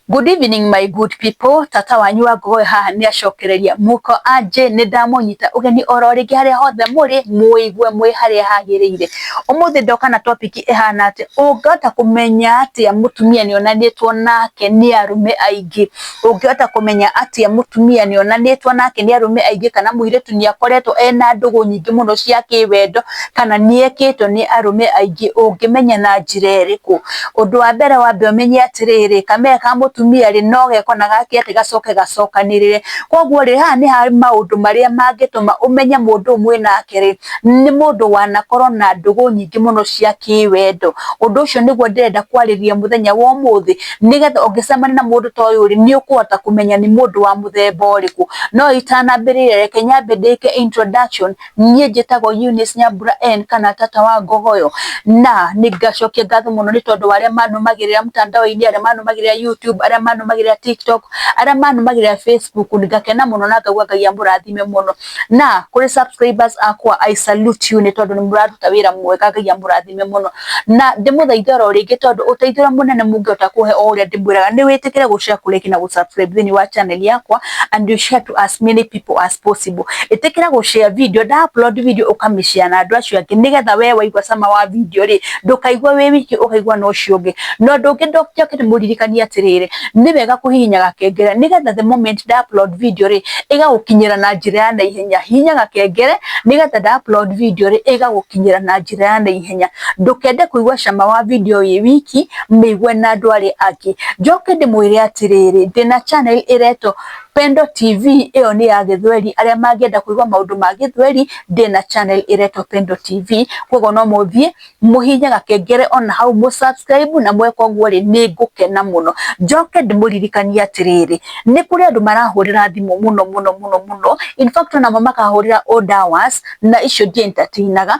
Good evening my good people, tata wanyu wa ngogoe haha nĩ acokereria muko anjĩ nĩ ndamũnyita ũgeni oro rĩngĩ harĩa hothe mũrĩ mũigue mwĩ harĩa hagĩrĩire. Ũmũthĩ ndoka na topic ĩhana atĩ ũngĩhota kũmenya atĩa mũtumia nĩ onanĩtwo nake nĩ arũme aingĩ. Ũngĩhota kũmenya atĩa mũtumia nĩ onanĩtwo nake nĩ arũme aingĩ kana mũirĩtu nĩ akoretwo ena ndũgũ nyingĩ mũno cia kĩwendo. kana nĩ ekĩtwo nĩ arũme aingĩ ũngĩmenya na njĩra ĩrĩkũ? Ũndũ wa mbere wambe ũmenye atĩrĩrĩ, kameme ka mũtumia rĩ, no geko na gake atĩ gacoke gacokanĩrĩre. Kũguo rĩ, haha nĩ ha maũndũ marĩa mangĩtũma ũmenye mũndũ ũyũ mwĩnake rĩ, nĩ mũndũ wanakorwo na ndũgũ nyingĩ mũno cia kĩwendo. Ũndũ ũcio nĩguo ndĩrenda kwarĩrĩria mũthenya wa ũmũthĩ, nĩgetha ũngĩcemania na mũndũ ta ũyũ rĩ, nĩ ũkũhota kũmenya nĩ mũndũ wa mũthemba ũrĩkũ. No itanambĩrĩria reke nyambe ndĩke introduction niĩ njĩtagwo Eunice Nyambura N kana tata wa ngogoyo na nĩ ngacokia ngatho mũno nĩ tondũ wa arĩa manũmagĩrĩra mtandao-inĩ arĩa manũmagĩrĩra YouTube arĩa manũmagĩrĩra TikTok arĩa manũmagĩrĩra Facebook ngakena mũno na ngaigua Ngai amũrathime mũno na kũrĩ subscribers akwa I salute you nĩ tondũ nĩ mũraruta wĩra mwega Ngai amũrathime mũno. na ndĩmũthaithe oro rĩngĩ tondũ ũteithio ũrĩa mũnene mũngĩhota kũhe o ũrĩa ndĩmwĩraga nĩ wĩtĩkĩre gũshare like na gũsubscribe thĩinĩ wa channel yakwa and you share to as many people as possible ĩtĩkĩra gũshare video nda upload video ũkamĩshare na andũ acio angĩ nĩgetha we waigua cama wa video rĩ ndũkaigua wĩ wiki ũkaigua na ũcio ũngĩ na ũndũ ũngĩ ndoke ndĩmũririkanie atĩrĩrĩ nĩ wega kũhihinya gakengere nĩgetha the moment nda upload video rĩ ĩgagũkinyĩra na njĩra ya naihenya hihinya gakengere nĩgetha nda upload video rĩ ĩgagũkinyĩra na njĩra ya naihenya ihenya ndũkende kũigua cama wa video ĩĩ wiki mĩigue na andũ arĩa angĩ njoke ndĩmwĩre atĩrĩrĩ ndĩna channel ĩretwo Pendo TV ĩyo nĩ ya gĩthweri arĩa mangĩenda kũigua maũndũ ma gĩthweri ndĩna channel ĩretwo Pendo TV koguo no mũthiĩ mũhihinye gakengere ona hau mũ subscribe na mweka ũguo rĩ nĩ ngũkena mũno njoke ndĩmũririkanie atĩrĩrĩ nĩ kũrĩ andũ marahũrĩra thimũ mũno mũno mũno mũno in fact onamo makahũrĩra old hours na icio ndi entertainaga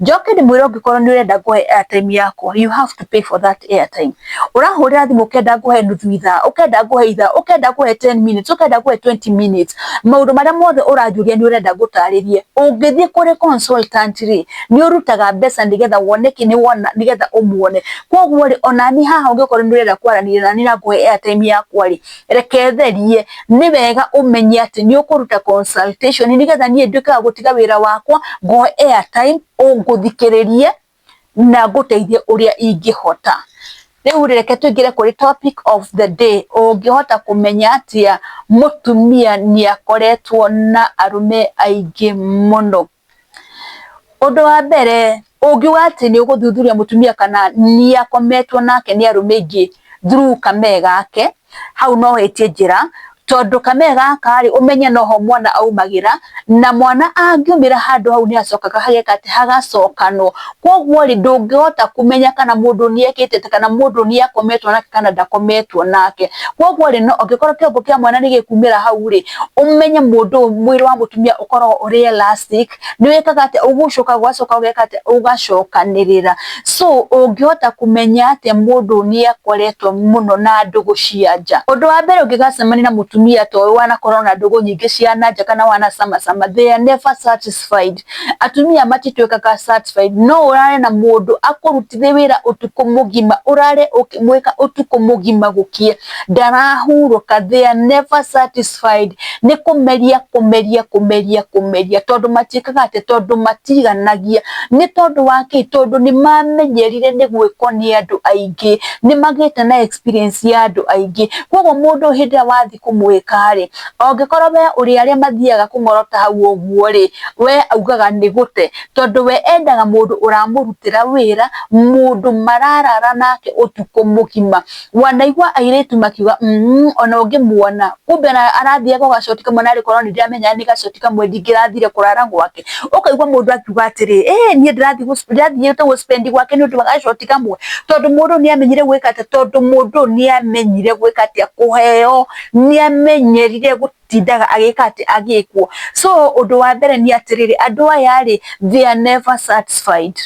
Njoke ndĩmwĩre ũngĩkorwo nĩ ũrenda ngũhe airtime yakwa you have to pay for that airtime. Ũrahũrĩra thimũ ũkenda ngũhe nuthu ithaa, ũkenda ngũhe ithaa, ũkenda ngũhe ten minutes, ũkenda ngũhe twenty minutes, maũndũ marĩa mothe ũranjũria nĩ ũrenda ngũtarĩrie. Ũngĩthiĩ kũrĩ consultant rĩ, nĩ ũrutaga mbeca nĩgetha wone kĩ? Nĩgetha ũmuone. Kũguo rĩ, ona niĩ haha ũngĩkorwo nĩ ũrenda kwaranĩria naniĩ na ngũhe airtime yakwa rĩ, reketherie nĩ wega ũmenye atĩ nĩ ũkũruta consultation nĩgetha niĩ nduĩke wa gũtiga wĩra wakwa ngoe airtime ngũthikĩrĩrie na ngũteithie ũrĩa ingĩhota. Rĩu rĩ reke tũingĩre kũrĩ topic of the day, ũngĩhota kũmenya atĩa mũtumia nĩ akoretwo na arũme aingĩ mũno. Ũndũ wa mbere ũngiuga atĩ nĩ ũgũthuthuria mũtumia kana nĩ akometwo nake nĩ arũme aingĩ through kamee gake, hau no wĩtie njĩra, tondũ kamee gaka rĩ, ũmenye noho mwana aumagĩra, na mwana angĩumĩra handũ hau nĩ hacokaga hageka atĩ, hagacokanwo. Kwoguo rĩ, ndũngĩhota kũmenya kana mũndũ nĩ ekĩte atĩa, kana mũndũ nĩ akometwo nake kana ndakometwo nake. Kwoguo rĩ, no angĩkorwo kĩongo kĩa mwana nĩ gĩkumĩra hau rĩ, ũmenye mũndũ ũyũ mwĩrĩ wa mũtumia ũkoragwo ũrĩ elastic, nĩ wĩkaga atĩa, ũgũcokaga ũgacoka ũgeka atĩa, ũgacokanĩrĩra. So ũngĩhota kũmenya atĩa mũndũ ũyũ nĩ akoretwo mũno na ndũgũ cia nja? Ũndũ wa mbere ũngĩgacemania na mũtumia ta ũyũ wanakorwo na ndũgũ nyingĩ cia na nja kana wanacamacama, they are never satisfied. Atumia matituĩkaga satisfied, no ũrare na mũndũ akũrutithie wĩra ũtukũ mũgima, ũrare ũkĩmwĩka ũtukũ mũgima gũkĩe, ndarahurũka, they are never satisfied. Nĩ kũmeria kũmeria kũmeria kũmeria, tondũ matiĩkaga atĩ, tondũ matiganagia. Nĩ tondũ wa kĩ? Tondũ nĩ mamenyerire nĩ gwĩkwo nĩ andũ aingĩ, nĩ magĩte na experience ya andũ aingĩ. Koguo mũndũ hĩndĩ ĩrĩa wathiĩ kũmwĩka-rĩ, angĩkorwo we ũrĩ arĩa mathiaga kũng'orota hau ũguo-rĩ, we augaga nĩ gũte, tondũ we endaga mũndũ ũramũrutĩra wĩra, mũndũ mararara nake ũtukũ mũgima. Wanaigua airĩtu makiuga umm ona ũngĩmuona, kumbe arathiaga o gacoti kamwe narĩ korwo nĩ ndĩramenya nĩ gacoti kamwe ndingĩrathire kũrara gwake. ũkaigua mũndũ akiuga atĩrĩ eh niĩ ndĩrathiĩte gũ spend gwake nĩ ũndũ wa gacoti kamwe tondũ mũndũ nĩ amenyire gwĩka atĩa tondũ mũndũ nĩ amenyire gwĩka atĩa kũheo nĩ amenyerire tindaga agĩka atĩ agĩkwo so ũndũ wa mbere nĩ atĩrĩrĩ andũ aya rĩ they are never satisfied.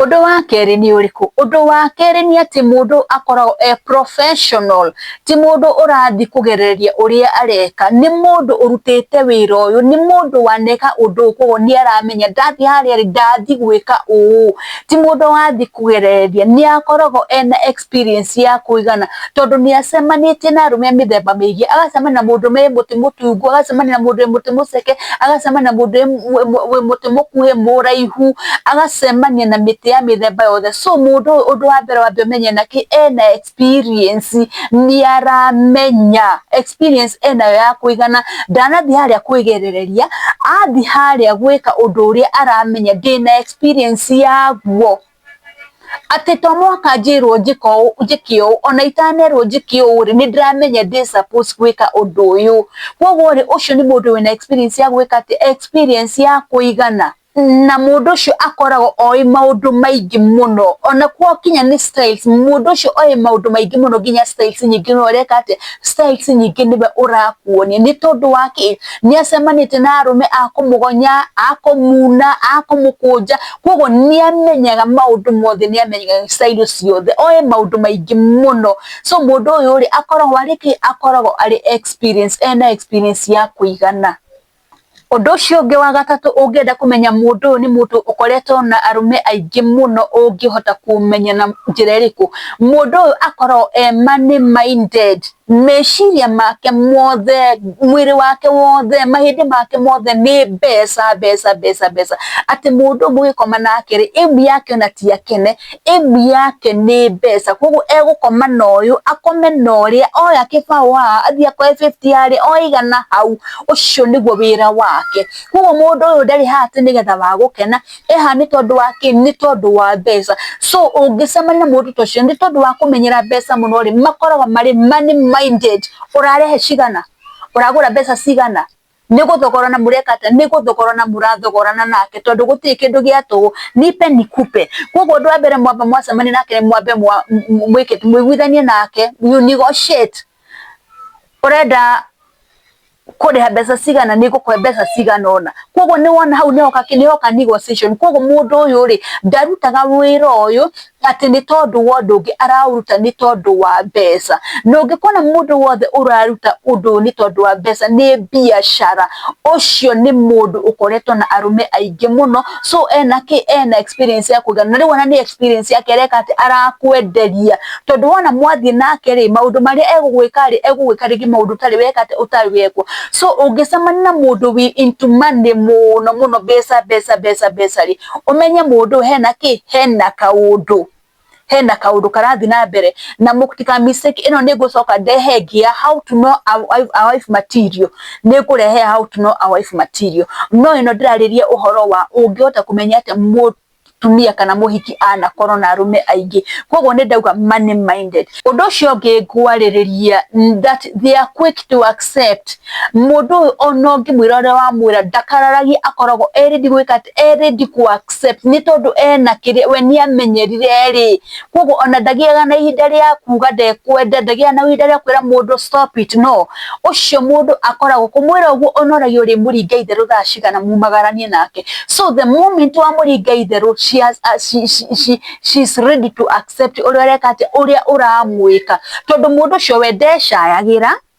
Ũndũ wa kerĩ nĩ ũrĩkũ? Ũndũ wa kerĩ nĩ atĩ mũndũ akoragwo e professional, ti mũndũ ũrathiĩ kũgereria ũrĩa areka, nĩ mũndũ ũrutĩte wĩra ũyũ, nĩ mũndũ waneka ũndũ ũyũ koguo nĩ aramenya ndathiĩ harĩa rĩ, ndathiĩ gwĩka ũũ, ti mũndũ wathiĩ kũgereria, nĩ akoragwo ena ex. experience ya kũigana tondũ nĩ acemanĩtie na arũme mĩthemba mĩingĩ, agacemania na mũndũ wĩ mũtĩ mũtungu, agacemania na mũndũ wĩ mũtĩ mũceke, agacemania na mũndũ wĩ mũtĩ mũkuhĩ, mũraihu, agacemania na mĩtĩ ya mĩthemba yothe. So mũndũ ũyũ ũndũ wa mbere wambe ũmenye ena kĩ? Ena experience, nĩ aramenya. Experience enayo ya kũigana, ndanathiĩ harĩa kwĩgerereria, athiĩ harĩa gwĩka ũndũ ũrĩa aramenya, ndĩna experience yaguo. atĩ to mũhaka njĩrwo njĩka ũũ njĩke ũũ, ona itanerwo njĩke ũũ rĩ, nĩ ndĩramenya ndĩ suppose gwĩka ũndũ ũyũ. Kũguo rĩ, ũcio nĩ mũndũ wĩna experience ya gwĩka atĩ, experience ya kũigana. Na mũndũ ũcio akoragwo oĩ maũndũ maingĩ mũno, ona gwakinya nĩ styles, mũndũ ũcio oĩ maũndũ maingĩ mũno nginya styles nyingĩ mũno ũreka atĩ, styles nyingĩ nĩwe ũrakuonia. Nĩ tondũ wa kĩ? Nĩ acemanĩtie na arũme a kũmũgonya, a kũmuna, a kũmũkũnja. ko nĩ amenyaga maũndũ mothe nĩ amenyaga cairo ciothe oĩ maũndũ maingĩ mũno so mũndũ ũyũ rĩ akoragwo arĩ kĩ akoragwo arĩ experience ena experience ya kũigana Ũndũ ũcio ũngĩ wa gatatũ ũngĩenda kũmenya mũndũ ũyũ nĩ mũndũ ũkoretwo na arũme aingĩ mũno ũngĩhota kũmenya na njĩra ĩrĩkũ, mũndũ ũyũ akoragwo e money minded. Meciria make mothe, mwĩrĩ wake wothe, mahĩndĩ make mothe nĩ mbeca, mbeca, mbeca, mbeca. Atĩ mũndũ ũyũ mũgĩkoma nake rĩ, aim yake ona ti akene, aim yake nĩ mbeca. Kũguo egũkoma na ũyũ, akome na ũrĩa, oya kĩbaũ haha, athiĩ akoe bĩbiti harĩa, oe igana hau, ũcio nĩguo wĩra wake. Kũguo mũndũ ũyũ ndarĩ haha atĩ nĩgetha wa gũkena, ĩ haha nĩ tondũ wa kĩ? Nĩ tondũ wa mbeca. So ũngĩcemania na mũndũ ta ũcio nĩ tondũ wa kũmenyera mbeca mũno rĩ, makoragwo marĩ money minded. Ũrarehe cigana? Ũragũra mbeca cigana? Nĩ gũthogorana mũreka atĩa? Nĩ gũthogorana mũrathogorana nake tondũ gũtirĩ kĩndũ gĩa tũhũ, nipe nikupe. Kwoguo ũndũ wa mbere mwamba mwacemania nake nĩ mwambe mũiguithanie nake, you negotiate. ũrenda kũrĩha mbeca cigana nĩ ngũkũhe mbeca cigana ona koguo nĩ wona hau nĩhoka nĩhoka negotiation koguo mũndũ ũyũ rĩ ndarutaga wĩra ũyũ atĩ nĩ tondũ wa ũndũ ũngĩ araũruta nĩ tondũ wa mbeca na ũngĩkora mũndũ wothe ũraruta ũndũ ũyũ nĩ tondũ wa mbeca nĩ mbiacara ũcio nĩ mũndũ ũkoretwo na arũme aingĩ mũno. so ena kĩ ena experience ya kũigana na rĩu ona nĩ experience yake areka atĩ arakwenderia tondũ wona mwathiĩ nake rĩ maũndũ marĩa egũgwĩka rĩ egũgwĩka rĩngĩ maũndũ ũtarĩ weka atĩ ũtarĩ wekwo so ũngĩcemania na mũndũ wi into money mũno mũno mbeca mbeca mbeca mbeca rĩ ũmenye mũndũ hena kĩ hena kaũndũ hena kaundu karathi na mbere na mutika mistake ino ni gucoka ndehe ngia how to know a wife material ni ngurehe how to know a wife material no ino ndiraririe uhoro wa ungihota kumenya ati tumia kana muhiki ana koro na arume aingi koguo ni ndauga money minded undu ucio ngi ngwaririria that they are quick to accept mundu uyu ona ungimwira uria wamwira ndakararagia akoragwo eri ndigwika e ready kũ accept nĩ tondũ ena kĩrĩa we nĩ amenyerire rĩ, koguo ona ndagĩaga na ihinda rĩa kuga ndekwenda, ndagĩaga na ihinda rĩa kwĩra mũndũ stop it no, ũcio mũndũ akoragwo, kũmwĩra ũguo ona ũragĩa ũrĩmũringa itherũ thaa cigana mumagaranie nake, so the moment wamũringa itherũ she has she is ready to accept ũrĩa ũreka atĩa, ũrĩa ũramwĩka, tondũ mũndũ ũcio we ndecayagĩra.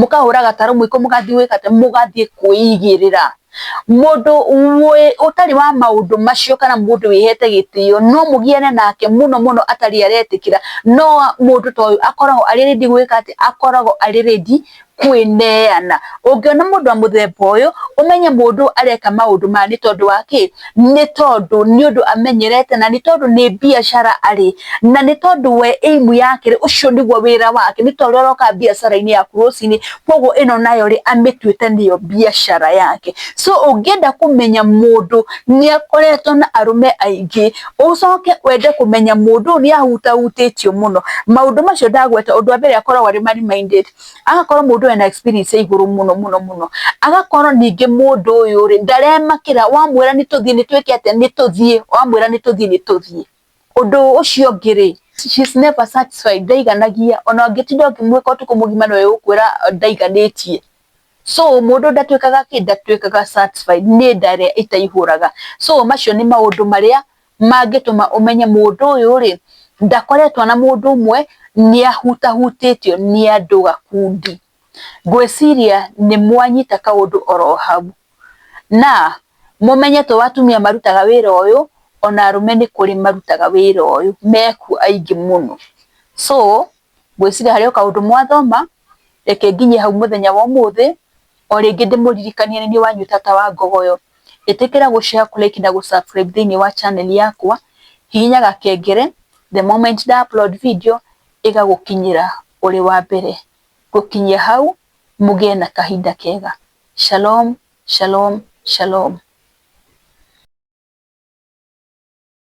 mũkahũra gatarũ mũiko mũgathiĩ gwĩka atĩa, mũgathiĩ kwĩigĩrĩra. Mũndũ ũtarĩ wa maũndũ macio kana mũndũ wĩhete gĩtĩo no mũgiane nake mũno mũno atarĩ aretĩkĩra, no mũndũ ta ũyũ akoragwo arĩ ready gwĩka atĩ, akoragwo arĩ ready kwĩneana. Ũngĩona mũndũ wa mũthemba ũyũ ũmenye mũndũ ũyũ areka maũndũ maya nĩ tondũ wa kĩ? nĩ tondũ nĩ ũndũ amenyerete na nĩ tondũ nĩ biacara arĩ na nĩ tondũ we aim yake ũcio nĩguo wĩra wake nĩ torĩa ũroka biacara-inĩ yaku rũcinĩ kwoguo ĩno nayo rĩ amĩtuĩte nĩyo biacara yake. So ũngĩenda kũmenya mũndũ nĩ akoretwo na arũme aingĩ ũcoke wende kũmenya mũndũ ũyũ nĩ ahutahutĩtio mũno maũndũ macio ndagweta ũndũ wa mbere akoragwo arĩ money minded Aga korwo mũndũ ena experience ya igũrũ mũno mũno mũno, agakorwo ningĩ mũndũ ũyũ rĩ, ndaremakĩra, wamwĩra nĩ tũthiĩ nĩ twĩke atĩa, nĩ tũthiĩ, wamwĩra nĩ tũthiĩ nĩ tũthiĩ. Ũndũ ũcio ũngĩ rĩ, she is never satisfied, ndaiganagia, ona ũngĩtinda ũkĩmwĩka ũtukũ mũgima no egũkwĩra ndaiganĩtie. So mũndũ ndatuĩkaga kĩ? Ndatuĩkaga satisfied, nĩ nda ĩrĩa ĩtaihũraga. So macio nĩ maũndũ marĩa mangĩtũma ũmenye mũndũ ũyũ rĩ, ndakoretwo na mũndũ ũmwe, nĩ ahutahutĩtio nĩ andũ gakundi. Ngwĩciria nĩ mwanyita kaũndũ oro hau. Na, mũmenye to atumia marutaga wĩra ũyũ, ona arũme nĩ kũrĩ marutaga wĩra ũyũ, mekuo aingĩ mũno. So. Ngwĩciria harĩ o kaũndũ mwathoma, reke nginye hau mũthenya wa ũmũthĩ, o rĩngĩ ndĩmũririkanie nĩ niĩ wanyu tata wa Ngogoyo. Ĩtĩkĩra gũ share, kũ like na gũ subscribe thĩinĩ wa channel yakwa, hihinya gakengere, the moment nda upload video, ĩgagũkinyĩra ũrĩ wa mbere. Gũkinyia hau, mũgĩe na kahinda kega. Shalom, shalom, shalom.